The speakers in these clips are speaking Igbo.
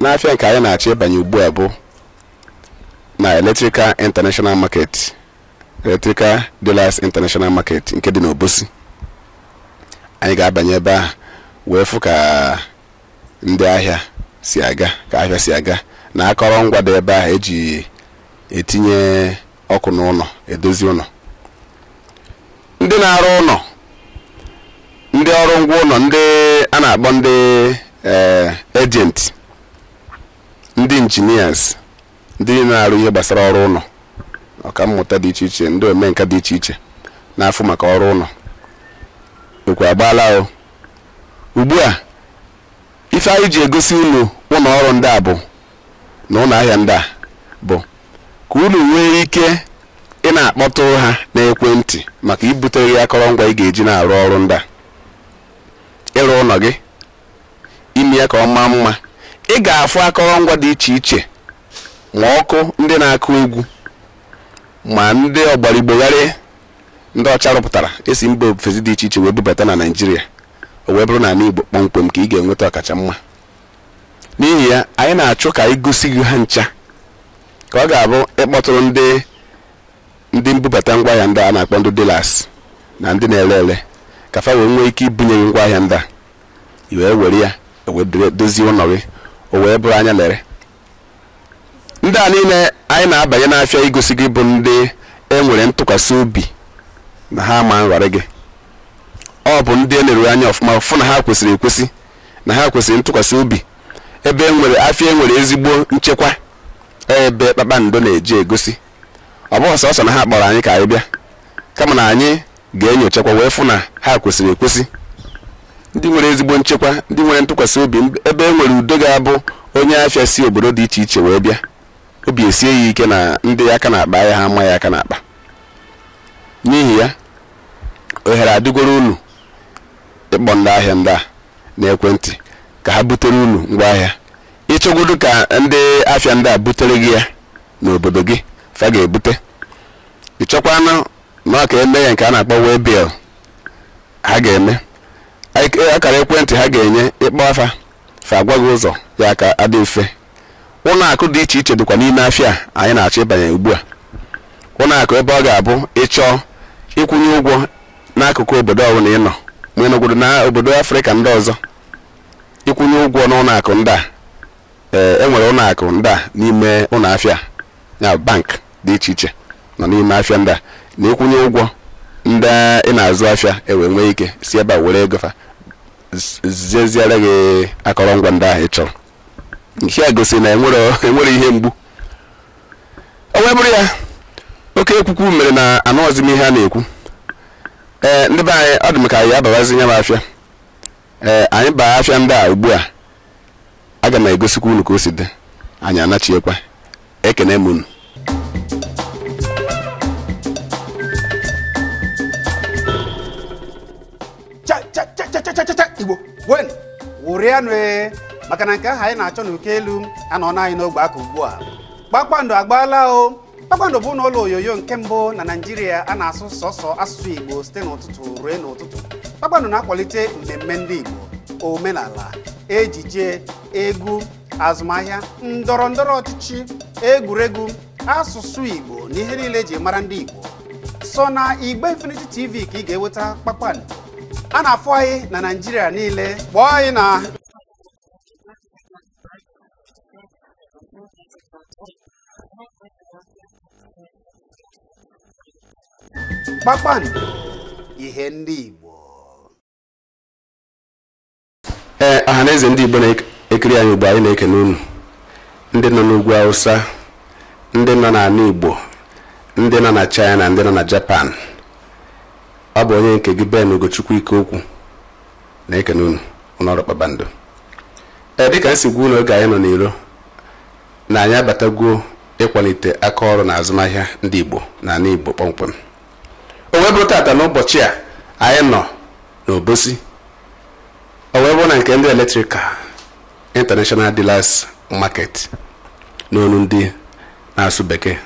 n'afịa nke anyị na-achọ ịbanye ugbu a bụ na Electrical International Market Electrical Dealers International Market nke dị n'Obosi anyị ga-abanye ebe ahụ wee fụ ka ndị ahịa si aga ka ahịa si aga na akọrọngwa dị ebe ahụ eji etinye ọkụ n'ụlọ edozi ụlọ ndị na-arụ ụlọ ndị ọrụ ngwa ụlọ ndị a na-akpọ ndị agent ndị engineers ndị na-arụ ihe gbasara ọrụ ụlọ ọka mmụta dị iche iche ndị omenka dị iche iche na-afụ maka ọrụ ụlọ okwu agbaala o ugbu a ife anyị ji egosi unu ụlọ ọrụ ndị a bụ na ụlọ ahịa ndị a bụ ka unu nwee ike ị na-akpọtụrụ ha n'ekwentị maka ibutere gị akọrọngwa ị ga-eji na-arụ ọrụ ndị a ịrụ ụlọ gị ime ya ka ọ maa mma ị ga-afụ akọrọngwa dị iche iche ma ọkụ ndị na-akụ egwu ma ndị ọgbara Igbo gharị ndị ọcha rụpụtara e si mba ofesi dị iche iche wee bubata na naijiria o wee bụrụ na ala igbo kpọmkwem ka ị ga-enweta ọkacha mma N'ihi ya, anyị na-achọ ka anyị gosi gị ha ncha ka ọ ga-abụ ị kpọtụrụ ndị mbubata ngwaahịa ndị a na-akpọ ndị dealers na ndị na-ele ele ka fa wee nwee ike ibunye gị ngwaahịa ndị a i wee were ya wee dozie ụlọ gị o wee bụrụ anya lere ndị a niile anyị na-abanye n'afịa igosi gị bụ ndị e nwere ntụkwasị obi na ha ma nghọrị gị ọ bụ ndị e neruru anya ọfụma fụ na ha kwesịrị ekwesị na ha kwesịrị ntụkwasị obi ebe e nwere afịa e nwere ezigbo nchekwa ebe Kpakpando na-eji egosi ọ bụghị sọsọ na ha kpọrọ anyị ka anyị bịa kama na anyị ga-enyochakwa wee fụ na ha kwesịrị ekwesị ndị nwere ezigbo nchekwa ndị nwere ntụkwasị obi ebe e nwere udo ga-abụ onye afịa si obodo dị iche iche wee bịa obi esie ya ike na ndị aka n'akpa ya ha ama ya aka n'akpa n'ihi ya ohere adịgoro unu ịkpọ ndị ahịa ndị a n'ekwentị ka ha butere unu ngwa ahịa ị chọgodu ka ndị afịa ndị a butere gị ya n'obodo gị fa ga-ebute ị chọkwanụ na ọ ka e mee ya nke a na-akpọ waybill ha ga-eme akara ekwentị ha ga-enye ị kpọọ fa fa agwa gị ụzọ ya ka adị mfe ụlọ akụ dị iche iche dịkwa n'ime afịa a anyị na-achọ ịbanye ugbu a ụlọ akụ ebe ọ ga-abụ ị chọọ ịkwụnye ụgwọ n'akụkụ obodo ọbụla ị nọ ma ị nọgodu na obodo afrịka ndị ọzọ ị kwụnye ụgwọ n'ụlọ akụ ndị a ee e nwere ụlọ akụ ndị a n'ime ụlọ afịa ya bụ bank dị iche iche nọ n'ime afịa ndị a na ịkwụnye ụgwọ ndị ị na-azụ afịa e wee nwee ike si ebe a were ego fa z- zeziere gị akọrọngwa ndị ahụ ị chọrọ nke a gosiri na enwere enwere ihe mgbu o wee bụrụ ya oke ekwukwu mere na anụghọzi m ihe a na-ekwu ee ndị be anyị ọ dị m ka anyị ababazi n'ime afịa ee anyị baa afịa ndị a ugbu a Aga m egosikwa unu ka o si dị, anyị anachiekwa. Ekene m unu. igbo nwe m ṅụrịanụ ee maka na nke ahụ anyị na-achọ n'uko elu anọna anyị n'ọbụ aka ugbu a kpakpando agbaala o kpakpando bụnụ ụlọ onyonyo nke mbụ na naijiria a na-asụ sọsọ asụsụ igbo site n'ụtụtụ ruo n'ụtụtụ kpakpando na-akwalite mmemme ndị igbo omenala ejije egwu azụmahịa ndọrọ ndọrọ ọchịchị egwuregwu asụsụ igbo na ihe niile eji mara ndị igbo sọ na igbe infinity tv ka ị ga-enweta kpakpando a na-afụ anyị na naijiria niile kpọọ anyị na kpakpando ihe ndị Igbo ee eh, ọha na eze ndị Igbo na-ekiri anyị ugbu a anyị na-ekene unu ndị nọ n'ugwu Hausa ndị nọ n'ala Igbo ndị nọ na China ndị nọ na Japan ọ bụ onye nke gị Ben Ugochukwu Ikeokwu na-ekene unu n'ụlọ ọrụ kpakpando ee dịka m si gwa unu oge anyị nọ n'iro na anyị abatagwo ịkwalite aka ọrụ na azụmahịa ndị igbo n'ala igbo kpọmkwem o wee bụrụ taata n'ụbọchị a anyị nọ n'obosi o wee bụrụ na nke ndị electrical international dealers market n'onu ndị na-asụ bekee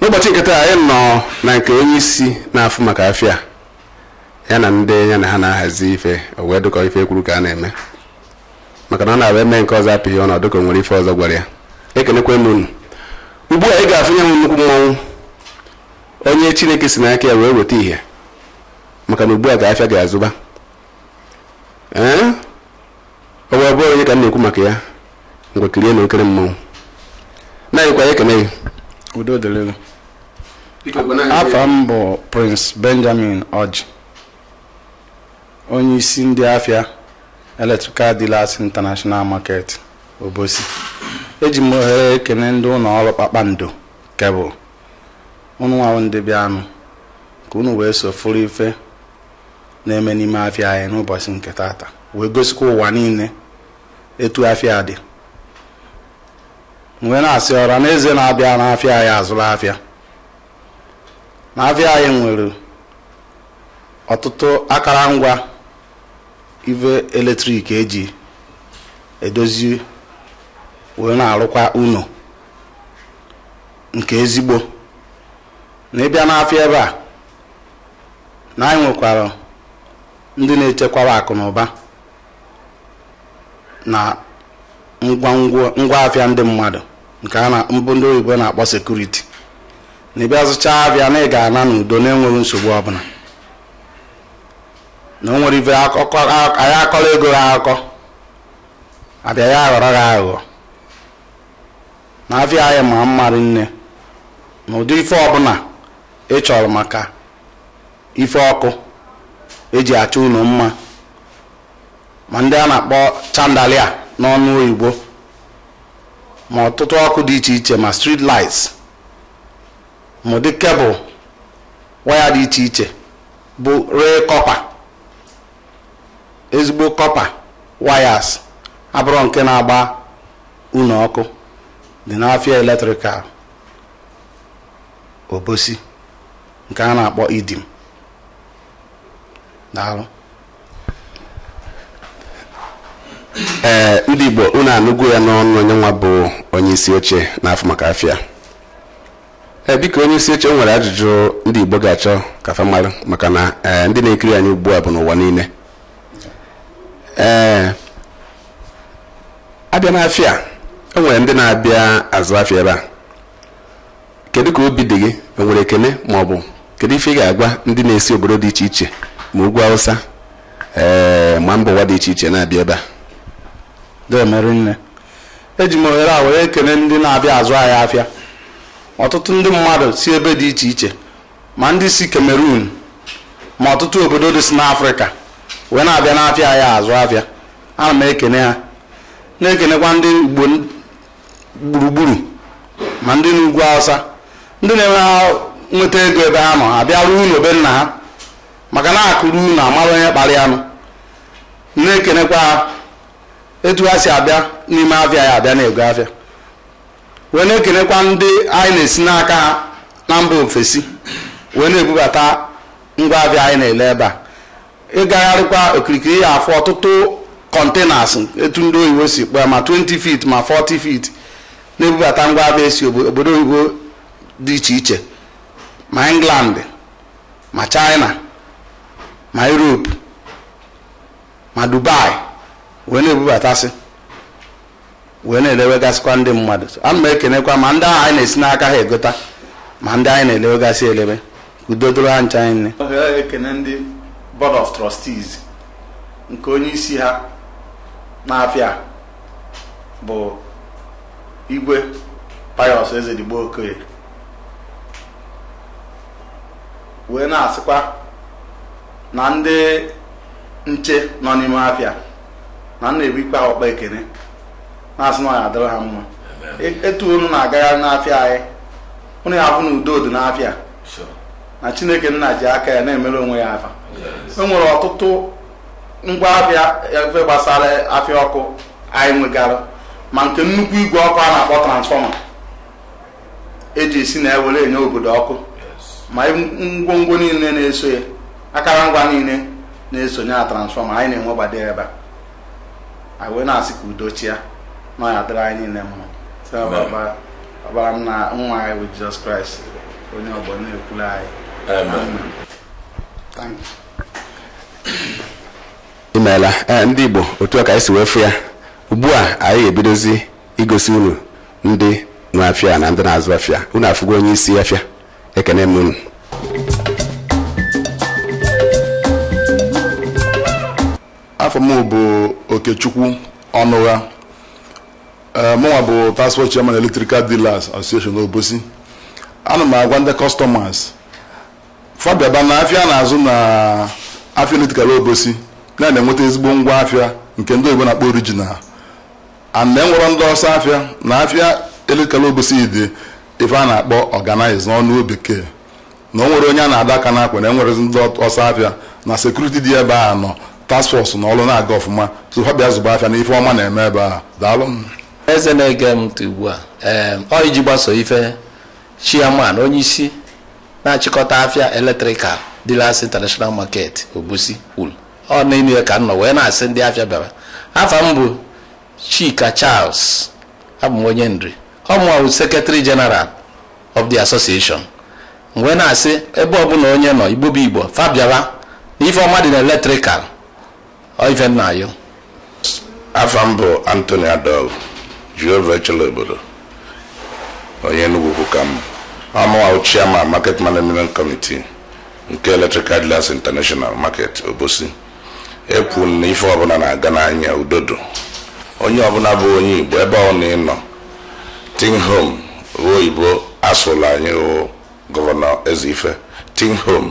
n'ụbọchị nke taa anyị nọ na nke onye isi na-afụ maka afịa ya na ndị ya na ha na-ahazi ife o wee dịka ife e kwuru ka a na-eme maka na ọ na-abụ eme nke ọzọ apịghị ọnụ ọ dịka o nwere ife ọzọ gwara ya ekenekwa m unu ugbu a ị ga-afụ ya nnukwu mmanwụ onye chineke si n'aka ya wee weta ihe maka na ugbu a ka afịa ga-azụba ee o wee bụrụ onye ka m na-ekwu maka ya ngwa kirie nụ okere mmanwụ na-anyịkwa ya ekene gị udo dịrị gị afa m bụ prince benjamin ọjị onye isi ndị afịa electrical dealers international market obosi eji m ohere ekene ndị ụlọ ọrụ kpakpando nke bụ unu nwa ndị bịanụ ka unu wee so fụrụ ife na-eme n'ime afịa anyị n'ụbọchị nke tata wee gosikwa ụwa niile etu afịa dị wee na-asị ọra na eze na-abịa n'afịa anyị azụrụ afịa na afịa anyị nwere ọtụtụ akara ngwa ive eletrik eji edozi wee na-arụkwa ụnọ nke ezigbo na ị bịa n'afịa ebe a na anyị nwekwara ndị na-echekwara akụ na ụba na ngwa afịa ndị mmadụ nke bụ ndị oyibo na-akpọ security na ị bịa zụchaa afịa na ị ga-ana n'udo na-enweghị nsogbu ọbụla na o nwere ife anyị akọrọ ego ha akụkọ abịa ya aghọrọ gị aghụghọ na afịa anyị ma mma rinne na ụdị ife ọbụla ị chọrọ maka ife ọkụ eji achọ ụnọ mma ma ndị a na-akpọ chandelier n'ọnụ oyibo ma ọtụtụ ọkụ dị iche iche ma street lights ma ụdị cable wire dị iche iche bụ real copper ezigbo copper wires abụrọ nke na-agba ụnọ ọkụ dị n'afịa Electrical Obosi nke a na-akpọ EDIM daalụ ee ndị igbo unu anụgo ya n'ọnụ onye nwa bụ onye isi oche na-afụ maka afịa ee biko onye isi oche nwere ajụjụ ndị igbo ga-achọ ka fa mara maka na ee ndị na-ekiri anyị ugbu a bụ n'ụwa niile ee a bịa n'afịa o nwere ndị na-abịa azụ afịa ebe a kedu ka obi dị gị o nwere ekene ma ọ bụ kedu ife ị ga-agwa ndị na-esi obodo dị iche iche ma ugwu awụsa ee ma mba ụwa dị iche iche na-abịa ebe a deeme rinne eji m ohere a were kene ndị na-abịa azụ anyị afịa ọtụtụ ndị mmadụ si ebe dị iche iche ma ndị si Cameroon ma ọtụtụ obodo dị si n'Afrịka wee na-abịa n'afịa anyị azụ afịa ana m ekene ha na-ekenekwa ndị igbo gburugburu ma ndị n'ugwu awụsa ndị na-eme ha nweta ego ebe ha nọ abịa rụọ ụnọ be nna ha maka na akụ ruo ụnọ a mara onye kpara ya nụ na-ekenekwa ha etu ha si abịa n'ime afịa ya abịa na-ego afịa wee na-ekenekwa ndị anyị na-esi n'aka ha na mba ofesi wee na-ebubata ngwa afịa anyị na-ele ebe a ịgagharịkwa okirikiri ya afụ ọtụtụ containers etu ndị oyibo si kpọọ ya ma 20 feet ma 40 feet na-ebubata ngwa afịa esi obo- obodo oyibo dị iche iche ma england ma china ma europe ma dubai wee na-ebubatasị wee na-elewegasịkwa ndị mmadụ ana m ekenekwa ma ndị ahụ anyị na-esi n'aka ha egota ma ndị anyị na-elewegasị elebe ka udo dịrị ha ncha anyị nne ohere ekene ndị board of trustees nke onye isi ha n'afịa bụ igwe pius ezedigbo okoye wee na-asịkwa na ndị nche nọ n'ime afịa na m na-ebukwa ha ukpa ekene na-asị na ọ ya adịrị ha mma etu unu na-agagharị n'afịa anyị unu ya afụ na udo dị n'afịa na chineke nna ji aka ya na-emere onwe ya afa e nwere ọtụtụ ngwa afịa ife gbasara afịa ọkụ anyị nwegara ma nke nnukwu igwe ọkụ a na-akpọ transfọma eji esi na ya were enye obodo ọkụ ma ngwongwo niile na-eso ya akara ngwa niile na-esonye na transfọma anyị na-enwegbado ya ebe a anyị wee na-asị ka udo chịa na ọ ya dịrị anyị niile mma si na ọbara onye nwe anyị bụ jizọs kraịst onye ọgbọ na-ekwulu anyị Amen. Thank you. imeela ee ndị igbo otu a ka anyị si wee fụ ya ugbu a anyị ga-ebidozi igosi unu ndị nwe afịa na ndị na-azụ afịa unu afụgo onye isi afịa ekene m unu afa m bụ okechukwu ọnụgha ee mụnwa bụ task force chairman electrical dealers association n'obosi ana m agwa ndị customers fa bịaba na afịa na-azụ na afịa electrical obosi na-enweta ezigbo ngwa afịa nke ndị oyibo na-akpọ original and na enwerọ ndị ọsọ afịa na afịa electrical obosi dị ife a na-akpọ organize n'ọnụ bekee na o nwerọ onye a na-adọ aka n'akwa na enwerọ ndị ọsọ afịa na security dị ebe a na task force na ọrụ na-aga ọfụma so fa bịa zụba afịa na ife ọma na-eme ebe a daalụ m eze na-ege m ntị ugbu a ee ọ n'iji gbaso ife chairman onye isi na-achịkọta afịa electrical dealers international market obosi kwuru ọ n'enu ya ka m nọ wee na-asị ndị afịa bịara afa m bụ Chika Charles abụ m onye nri ọ mụnwa bụ secretary general of the association m wee na-asị ebe ọbụla onye nọ igbo bụ igbo fa bịara na ife ọma dị na electrical ọ ife m na-ayọ afa m bụ Anthony Adol Jehova echela obodo onye Enugu ukwu ka m ọ mụwa chairman market management committee nke Electrical Dealers International Market Obosi ekwu na ife ọbụna na-aga n'anya udodo onye ọbụna bụ onye Igbo ebe ọna ị nọ think home oyibo asụla anyị gọvanọ Ezeife think home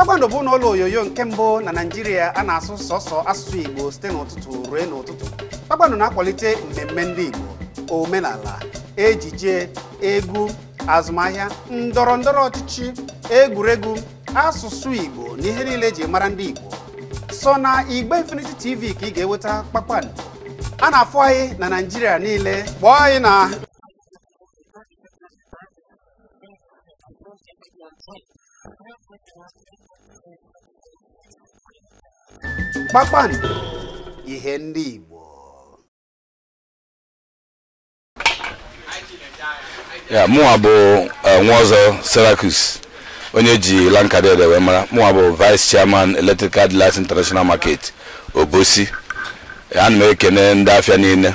kpakpando bụnụ ụlọ onyonyo nke mbụ na naijiria a na-asụ sọsọ asụsụ igbo site n'ụtụtụ ruo n'ụtụtụ kpakpando na-akwalite mmemme ndị igbo omenala ejije egwu azụmahịa ndọrọ ndọrọ ọchịchị egwuregwu asụsụ igbo na ihe niile eji mara ndị igbo sọ na igbe infinity tv ka ị ga-enweta kpakpando a na-afụ anyị na naijiria niile kpọọ anyị na kpakpando ihe ndị Igbo ya mụnwa bụ eh, Nwaọzọ Cyriacus onye eji Lankadede wee mara mụnwa bụ vice chairman electrical dealers international market obosi ana m ekene ndị afịa niile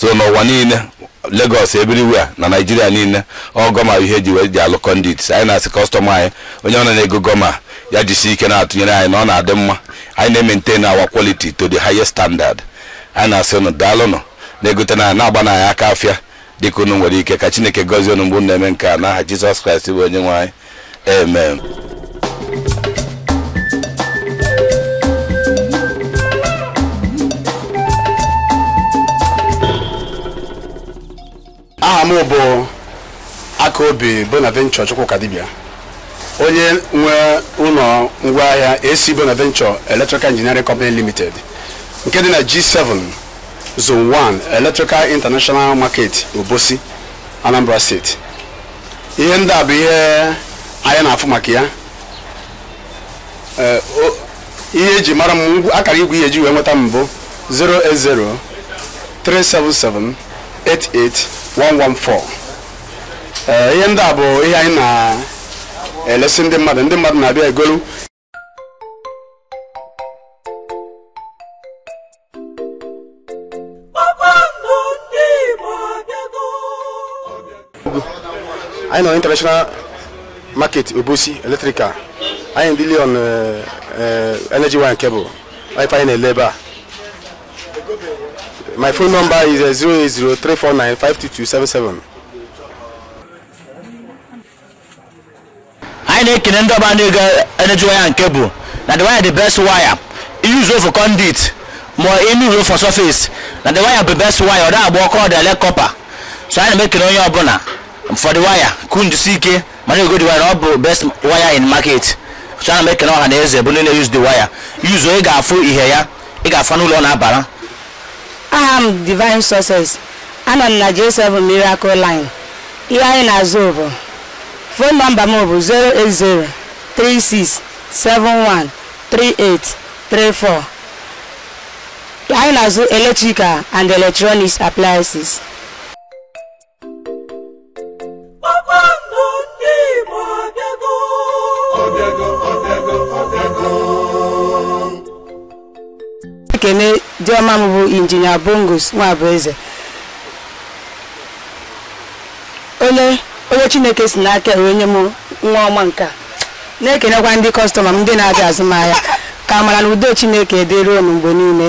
so n'ụwa niile Lagos everywhere na Naịjirịa niile ọ gọma ihe eji wee ji alụ conduit anyị na-asị kọstọma anyị onye ọna na-ego gọma ya jisi ike na-atụnyere anyị na ọ na-adị mma anyị na-emaintain our quality to the highest standard anyị na-asị unu daalụnụ na-egotenụ na-agbanụ anyị aka afịa dịka unu nwere ike ka Chineke gọzie unu mgbe unu na-eme nke a n'aha Jizọs Kraịst bụ onye nwe anyị amen aha m bụ akaobi bonaventure chukwukadibia onye nwe ụlọ ngwaahịa ac bonaventure electrical engineering company limited nke dị na g7 zone 1 electrical international market obosi anambra steeti ihe ndị a bụ ihe anyị na-afụ maka ya eh, ihe eji mara m akara igwe ihe eji wee nweta m bụ 080 377 88114 ihe ndị a bụ ihe anyị na-elesi ndị mmadụ ndị mmadụ na-abịa egolu anyị nọ international market obosi electrical anyị na-deal on eh, eh, energy wire cable bụ ife anyị na-ele ebe a my phone number is eh, 08034952277 anyị na-ekene ndị ọba na-ego energy wire and cable na the wire the best wire use for conduit ma inu use for surface na the wire bụ best wire ọ da agba ọkụ ọ da ele copper so ana m ekene onye ọbụla for the wire ka unu jisie ike ma na-ego the wire ọ bụ best wire in market so ana m ekene ọha na eze bụ ndị na-use the wire use ị ga-afụ ihe ya ị ga-afụ uru ọ na-abara aha m divine success anọ m na j7 miracle line Ihe anyị na-azụ bụ Fon nọmba m bụ 08036713834. Anyị na-azụ electrical and electronics appliances. Kpakpando ndị Igbo abịago. Ọbịago, ọbịago, ọbịago. ekene di ọma m bụ injinia bongus nwabueze onye chineke si n'aka ya wee nye m nwa ọma nke a na-ekenekwa ndị kọstọma m ndị na-abịa azụ m ahịa ka amara na udo chineke dịrị unu mgbe niile